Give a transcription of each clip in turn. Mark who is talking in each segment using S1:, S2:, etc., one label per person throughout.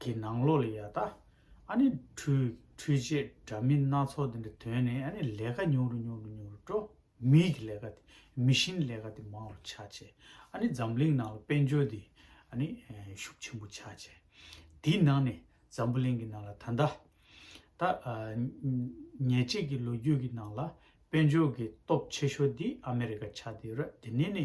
S1: གི་ནང་ལོགས་ལ་ཡ་ད་ཨ་ནི་ཁྲུས་ཁྲུས་བྱས་འདྲ་མིན་སྣ་ཚོགས་འདི་འདྲ་དོན་ནི་ཨ་ནི་ལས་ཀ་ཉུང་རུ་ཉུང་རུ་ཉུང་རུ་འགྲོ། མིའི་གི་ལས་ཀ་དེ་མི་གཤིན་ལས་ཀ་དེ་མང་རུ་ཆག་བྱས་ཨ་ནི་འཛམ་གླིང་ནང་ལ་དཔལ་འབྱོར་འདི་ཨ་ནི་ཤུགས་ཆེན་པོ་ཆག་བྱས། དེའི་ནང་ནས་འཛམ་བུ་གླིང་གི་ནང་ལ་ད་ད་ད་ཉེས་བྱས་གི་ལོ་རྒྱུས་གི་ནང་ལ་དཔལ་འབྱོར་གི་སྟོབས་ཆེ་ཤོས་འདི་ཨ་མི་རི་ཀ་ཆག་འདི་རོད་དེ་ནས་ནི།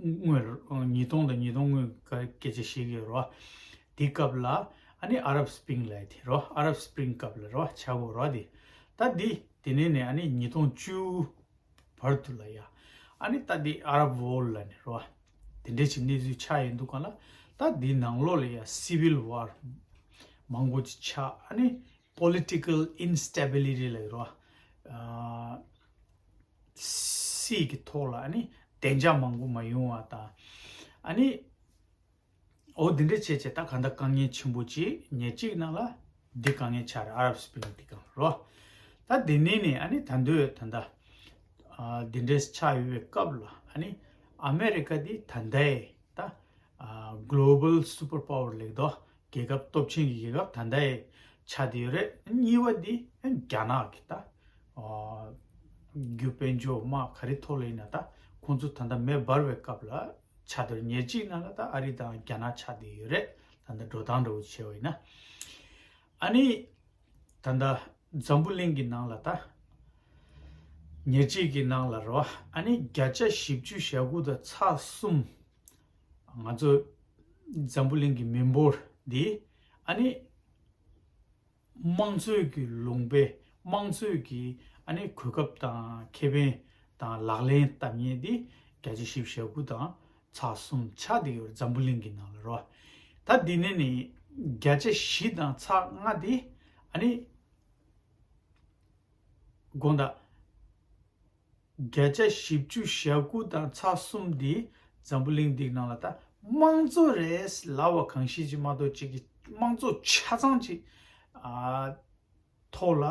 S1: དངོས། ཉིས་སྟོང་དང་ཉིས་སྟོང་དངོས་སྐད་ཆ་བཤད་ཀྱི་རོ། དེ་སྐབས་ལ་ཨ་ནི་ཨ་རབ་སྤིང་ལ་དེ་རོ་ཨ་རབ་སྤིང་སྐབས་ལ་རོ་བྱ་གོ་རོ་དེ། ད་དེ་དེ་ནས་ནས་ཨ་ནི་ཉིས་སྟོང་བཅུ་བར་དུ་ལ་ཡ། ཨ་ནི་ད་དེ་ཨ་རབ་བོར་ལ་ནི་རོ། དེ་འདྲའི་ཆེ་གནས་ཚུལ་ཆགས་ཡོད་འདུག་ག་ལ། ད་དེ་ནང་ལོགས་ལ་ཡ Civil War མང་པོ་ཅིག་ཆགས་ཨ་ནི Political Instability ལ་ཡི་རོ། སྲིད་ཀྱི་ཐོག་ལ་ནི་བདེ་འཇགས་མང་པོ་མ་ཡོང་བ་དང། ཨ་ནི། འོ་འདི་འདྲ་བྱས་བྱས་ད་ག་འདྲ་དཀའ་ངལ་ཆེན་པོ་ཅི་ཉེར་གཅིག་ནང་ལ་འདི་ག་ངལ་ཆགས་རེད་ཨ་རབ་སི་པིན་འདི་གང་རོ། ད་འདི་ནས་ནི་ཨ་ནི་ད་འདོད་ད་འདའ། འདི་འདྲ་ཆགས་ཡོད་པའི་སྐབས་ལ་ཨ་ནི་ཨ་མེ་རི་ཀ་འདི་ད་འདའི་ད། Global Super Power ལེགས་འདོགས་རྒྱལ་ཁབ་སྟོབས་ཆེན་གྱི་རྒྱལ་ཁབ་ད་ལྟ་ཡི་ཆ་དེ་རེད། གཉིས་པ་དེ་རྒྱ་ནག་གི་ད་རྒྱུ་དཔལ་འབྱོར་དམག་ག་རེ་ཐོག་ལ་ཡིན་ན་ད་ཁོང་ཚོ་ད་ལྟ་མེ་འབར་བའི་སྐབས་ལ་ཆ་དེར་ཉེར་གཅིག་ན་ལ་ད་ཨ་རི་དང་རྒྱ་ནག་ཆ་དེ་ཡོད་རེད་ད་ལྟ་འགྲོ་སྟངས་འདྲ་བོ་བྱས་བ་ཡིན་ན། ཨ་ནི་ད་ལྟ་འཛམ་བུ་གླིང་གི་ནང་ལ་ད་ཉེར་གཅིག་གི་ནང་ལ་རེད་བ་ཨ་ནི་བརྒྱ་ཆ་བཞི་བཅུ་ཞེ་དགུ་དང་ཚ་གསུམ། ང་ཚོ་འཛམ་བུ་གླིང་གི་མི་འབོར་འདི་ཨ་ནི་དམངས་གཙོའི་གི་ལུང་པའི་དམངས་གཙོའི་གི་ཨ་ནི་གོ་སྐབས་དང་ཁེ་ཕན་དང་ལག་ལེན་བསྟར་ཉེན་འདི་གྱ་བཅུ་བཞི་བཞག་དགུ་དང་ཚ་གསུམ་ཆ་འདི་ཡོར་འཛམ་བུ་གླིང་གི་ནང་ལ་རོ་ད་འདི་ནས་ནི་བརྒྱ་ཆ་བཞི་དང་ཚ་ལྔ་འདི་ཨ་ནི་དགོངས་དག། བརྒྱ་ཆ་བཞི་བཅུ་ཞག་དགུ་དང་ཚ་གསུམ་འདི་འཛམ་བུ་གླིང་འདིག་ནང་ལ་ད་དམངས་གཙོ་རེད་ལ་བ་གང་ཤེས་ཀྱི་མ་གཏོགས་ཅིག་གི་དམངས་གཙོ་ཆ་ཚང་ཅིག་ཐོག་ལ་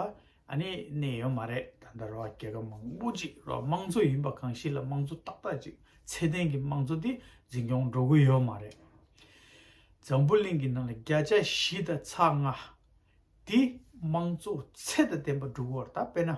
S1: ནི་གནས་ཡོད་མ་རེད་ད་ལྟ་ར་བ་རྒྱལ་ཁབ་མང་པོ་ཅིག་ར་བ་དམངས་གཙོ་ཡིན་པ་གང་ཤེས་ལ་དམངས་གཙོ་ཏག་ཏག་ཅིག་ཚད་ལྡན་གྱི་དམངས་གཙོ་འདི་འཛིན་སྐྱོང་འགྲོ་གི་ཡོད་མ་རེད། འཛམ་བུ་གླིང་གི་ནང་ལ་བརྒྱ་ཆ་བཞི་དང་ཚ་ལྔ་འདི་དམངས་གཙོ་ཚད་ད་ལྡན་པ་འགྲོ་གི་བར་ད་དཔེ་ན།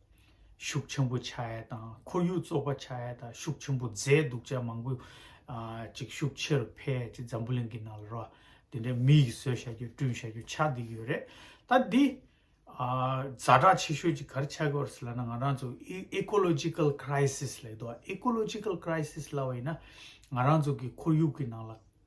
S1: ཤུགས་ཆེན་པོ་བྱ་ཡ་དང་ཁོར་ཡུག་བཙོག་པ་བྱ་ཡ་དང་ཤུགས་ཆེན་པོ་མཛད་འདུག་ཅག་མང་པོ་ཅིག་ཤུགས་ཆེ་རུ་འཕེལ་ཅིག་འཛམ་བུ་གླིང་གི་ནང་ལ་རོ་དེ་འདྲའི་མི་ཡིག་བཟོས་བྱ་རྒྱུ་བསྐྲུན་བྱ་རྒྱུ་ཆགས་འདི་ཡོད་རེད་ད་འདི་བཛའ་དྲག་ཆེ་ཤོས་ཅིག་གར་ཆགས་དགོས་རེད་ལ་ང་རང་ཚོ Ecological Crisis ལ་ཡོད Ecological Crisis ལ་བ་ཡིན་ན་ང་རང་ཚོ་གི་ཁོར་ཡུག་གི་ནང་ལ་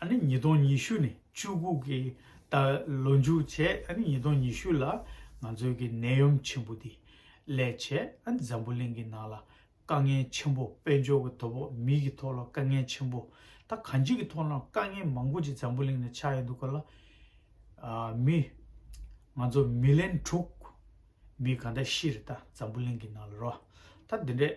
S1: ཨ་ནི་ཉིས་སྟོང་ཉི་ཤུ་ནས་བཅུ་དགུ་གི་ད་ལོ་མཇུག་བྱས་ཨ་ནི་ཉིས་སྟོང་ཉི་ཤུ་ལ་ང་ཚོའི་གི་ནད་ཡོམ་ཆེན་པོ་དེ་ལས་བྱས་ཨ་ནི་འཛམ་བུ་གླིང་གི་ནང་ལ་དཀའ་ངལ་ཆེན་པོ་དཔལ་འབྱོར་གི་དོ་ཕོག་མིའི་གི་ཐོག་ལ་དཀའ་ངལ་ཆེན་པོ་ད་གང་ཅི་གི་ཐོག་ལའང་དཀའ་ངལ་མང་པོ་ཅིག་འཛམ་བུ་གླིང་ནས་ཆགས་ཡོད་འདུག་ག་ལ་མི་ང་ཚོ་མི་ལན་དྲུག་མི་ག་འདྲ་ཤི་རེད་ད་འཛམ་བུ་གླིང་གི་ནང་ལ་རོ་ད་འདི་འདྲས་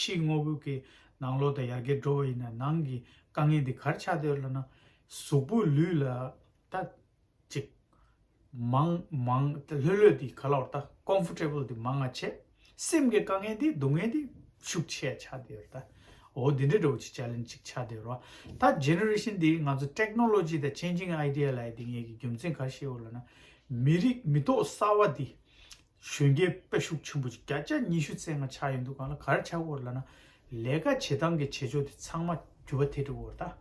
S1: ཕྱིའི་དངོས་པོ་གི་ནང་ལོག་ཏུ་ཡར་གེར་འགྲོ་བ་ཡིན་ན་ནང་གི་དཀའ་ངལ་འདི་གར་ཆགས་འདོད་ལ་ན། གཟུགས་པོ་ལུས་ལ་ལྟ། ཅིག། མང། མང། ལྷོད་ལྷོད་འདི་ག་ལ་བར་ལྟ། Comfortable། འདི་མང་ང་ཆེ། སེམས་ཀྱི་དཀའ་ངལ་འདི་སྡུག་བསྔལ་འདི་ཤུགས་ཆེ་ཆགས་འདོད་ལ་ལྟ། འོ་འདི་འདྲ་འགྲོ་བ་ཅིག་ཅར་ལན་ཅིག་ཆགས་འདོད་རོ། ད Generation འདིའི་ང་ཚོ Technology དང Changing Idea ལའི་འདི་ངེད་ཀྱི་རྒྱུ་མཚན་གར་ཤེས་འོ་ལ་ན། མི་རིགས་མི་ཐོག་གསར་བ་འདི། གཞོན་སྐྱེས་དཔེ་ཤུགས་ཆེན་པོ་ཅིག་བརྒྱ་ཆ་ཉི་ཤུ་ཚན་ལྔ་ཆགས་ཡོད་འདུག་གང་ལ་གར་ཆགས་སྐོར་ལ་ན་ལས་ཀ་བྱེད་སྟངས་ཀྱི་བྱེད་ཕྱོགས་དེ་ཚང་མ་འགྱུར་བ་ཐེབས་འགྲོ་བར་གདའ།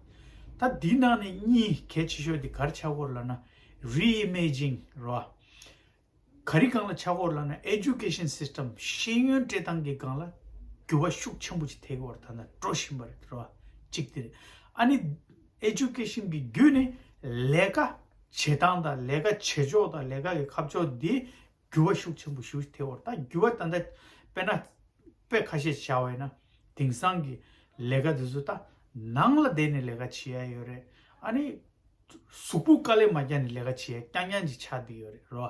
S1: ད་འདི་ནང་ནས་གཉིས་གལ་ཆེ་ཤོས་དེ་གར་ཆགས་སྐོར་ལ་ན Reimaging རོ། ག་རི་གང་ལ་ཆགས་སྐོར་ལ་ན Education System ཤེས་ཡོན་སྤྲད་སྟངས་ཀྱི་སྒང་ལ་འགྱུར་བ་ཤུགས་ཆེན་པོ་ཅིག་ཐེབས་འགོ་བར་ད་ལྟ་སྤྲོ་བཞིན་པ་རེད་རོ། གཅིག་དེ་རེད། ཨ་ནི། Education། གི་བརྒྱུད་ནས་ལས་ཀ་བྱེད་སྟངས་དང་ལས་ཀ་བྱེད་ཕྱོགས་དང་ལས་ཀ་གི་ཁ་ཕྱོགས་དེ་འགྱུར་བ་ཤུགས་ཆེན་པོ་ཞུ་ཐེ་བོར་ད་འགྱུར་བ་ད་ལྟ་དཔེར་ན་དཔེ་ཁ་ཤས་བྱ་བས་ན་དེང་སང་གི་ལས་ཀ་དེ་ཚོ་ད་ནང་ལ་བསྡད་ནས་ལས་ཀ་བྱེད་ཡ་ཡོད་རེད་ཨ་ནི་གཟུགས་པོ་དཀའ་ལས་མ་བརྒྱག་ནས་ལས་ཀ་བྱེད་ཡ་རྐྱང་རྐྱང་ཅིག་ཆགས་བསྡད་ཡོད་རེད་རོ་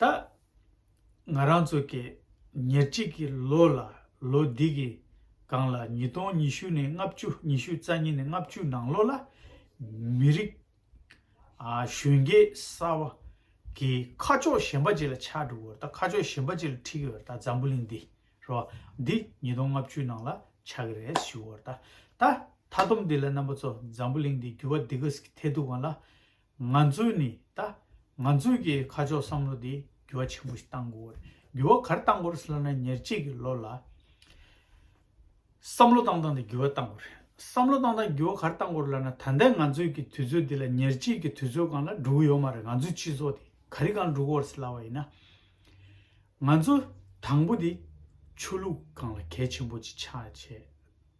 S1: ད། ང་རང་ཚོ་གིས་ཉེར་གཅིག་གི་ལོ་ལ་ལོ་འདི་གི་སྒང་ལ་ཉིས་སྟོང་ཉི་ཤུ་ནས་ལྔ་བཅུ་ཉི་ཤུ་རྩ་གཉིས་ནས་ལྔ་བཅུ་ནང་ལོ་ལ། མི་རིགས། གཞོན་སྐྱེས་གསར་བ། གི་ཁ་ཕྱོགས་གཞན་པ་ཅིག་ལ་ཆགས་འགྲོ་གི་བར་ད་ཁ་ཕྱོགས་གཞན་པ་ཅིག་ལ་འཁྲིད་གི་བར་ད་འཛམ་བུ་གླིང་འདི་རོ། འདི་ཉིས་སྟོང་ལྔ་བཅུའི་ནང་ལ་ཆགས་གི་རེད་ཞུ་བར་ད། ད་མཐའ་སྡོམ་འདི་ལ་རྣམ་པ་ཚོ་འཛམ་བུ་གླིང་འདི་འགྱུར་བ་འདི་ག་ཟིག་ཐེག་ཐུབ་གང་ལ། ང་ཚོས་ནི་ད། ང་ཚོས་ཀྱི་ཁ་ཕྱོགས་བསམ་བློ་དེ་འགྱུར་བ་ཆེན་པོ་ཞིག་གཏང་དགོས། འགྱུར་བ་གར་གཏང་དགོས་རེད་ཟེར་ན་ཉེར་གཅིག་གི་ལོ་ལ། བསམ་བློ་བཏང་བཏང་དེ་འགྱུར་བ་གཏང་དགོས་རེད། བསམ་བློ་བཏང་བཏང་འགྱུར་བ་གར་གཏང་དགོས་རེད་ལབ་ན་ད་ལྟའི་ང་ཚོས་ཀྱི་དུས་ཚོད་འདི་ལ་ཉེར་གཅིག་གི་དུས་ཚོད་གང་ལ་འགྲོ་གི་ཡོད་མ་རེད་ང་ཚོའི་སྤྱི་ཚོགས་དེ་ག་རི་གང་འགྲོ་གི་ཡོད་ཟེར་ལབ་པ་ཡིན་ན། ང་ཚོ་དང་པོ་དེ་ཆོས་ལུགས་གང་ལ་གལ་ཆེན་པོ་ཅིག་ཆགས་བྱས།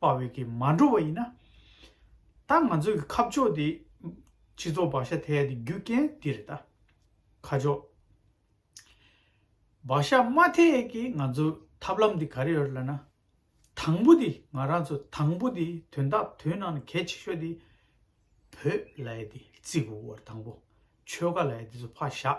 S1: པ་བས་ཀྱིས་མ་འགྲོ་བ་ཡིན་ན། ད་ང་ཚོས་ཀྱི་ཁབ་ཕྱོགས་དེ་སྤྱི་ཚོགས་བག་ཤ་ཐལ་ཏེ་རྒྱུ་རྐྱེན་འདི་རེད་ད། ཁ་ཕྱོགས་བག་ཤ་མ་ཐལ་ཀྱི་ང་ཚོའི་ཐབས་ལམ་དེ་ག་རེ་ཡོད་ལ་ན། དང་པོ་དེ་ང་རང་ཚོ་དང་པོ་དེ་དོན་དག་དོན་ནང་ནས་གལ་ཆེ་ཤོས་དེ། བོད་ལྭའི་དེ་རྩིག་བོར་དང་པོ་ཆོལ་ཁ་ལྭའི་དེ་ཚོ་ཕ་བཞག་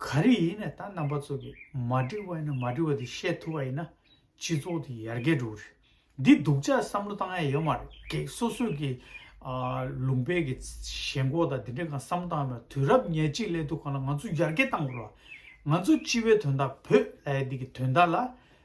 S1: ག་རེ་ཡིན་ནས་ད་རྣམ་པ་ཚོ་གི་མ་འགྲིག་པ་ཡིན་ན་མ་འགྲིག་པ་དེ་བཤད་ཐུབ་པ་ཡིན་ན་སྤྱི་ཚོགས་དེ་ཡར་རྒྱས་འགྲོ་གི་རེད་འདི་སྡུག་ཅག་བསམ་བློ་བཏང་ཡ་ཡོད་མ་རེད་གེགས་སོ་སོས་གི་ལུང་པའི་གི་ཞེན་ཁོག་དང་དེ་འདྲས་གང་བསམ་བློ་བཏང་ཡ་མ་རེད་དུས་རབས་ཉེར་གཅིག་སླེབས་འདུག་གང་ལ་ང་ཚོ་ཡར་རྒྱས་བཏང་དགོས་རེད་བ་ང་ཚོ་སྤྱི་བའི་དོན་དག་བོད་ལྷའི་འདི་གི་དོན་དག་ལ་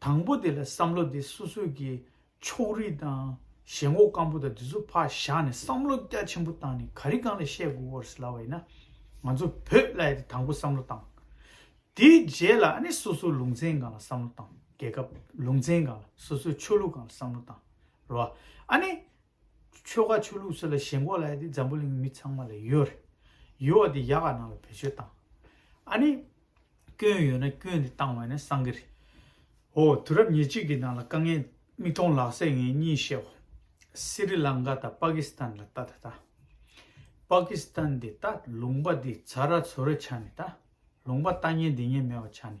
S1: དང་པོ་དེ་ལ་བསམ་བློ་དེ་སོ་སོས་ཀྱི་ཕྱོགས་རིས་དང་ཞེན་ངོགས་སྐམ་པོ་དང་དེ་ཚོ་ཕར་བཞག་ནས་བསམ་བློ་རྒྱ་ཆེན་པོ་བཏང་ནས་ག་རི་གང་ལ་བཤད་དགོས་བོར་སི་ལ་བ་ཡིན་ན། ང་ཚོ་བོད་བླ་ཡི་དེ་དང་པོ་བསམ་བློ་བཏང། དེའི་རྗེས་ལ་ཨ་ནི་སོ་སོའི་ལུང་ཚན་གང་ལ་བསམ་བློ་བཏང་རྒྱལ་ཁབ་ལུང་ཚན་གང་ལ་སོ་སོའི་ཆོས་ལུགས་གང་ལ་བསམ་བློ་བཏང་རོ། ཨ་ནི་ཆོལ་ཁ་ཆོས་ལུགས་སོགས་ལ་ཞེན་ཁོག་ལ་ཡ་དེ་འཛམ་བུ་གླིང་མི་ཚང་མ་ལ་ཡོད་རེད། ཡོད་བ་དེ་ཡག་ག་ནང་ལ་བེད་སྤྱོད་བཏང། ཨ་ནི། སྐྱོན་ཡོད་ན་སྐྱོན་དེ་བཏང་བས་ན་བསམ་གི་རེད། ཧོ། དུས་རབས་ཉེར་གཅིག་གི་ནང་ལ་དཀའ་ངལ། མིག་མཐོང་ལག་ཟད་ངས་གཉིས་བཤད་བོ། སི་རི་ལང་ཀ་དང་པ་ཀི་སི་ཐན་ལ་ལྟ་ད་ལྟ། པ་ཀི་སི་ཐན་དེ་ལྟ་ལུང་པ་དེ་ཚ་ར་ཚོད་ར་ཆགས་ནས་ལྟ་ལུང་པ་ལྟ་ཉན་འདི་ཉན་མེད་བ་ཆགས་ནས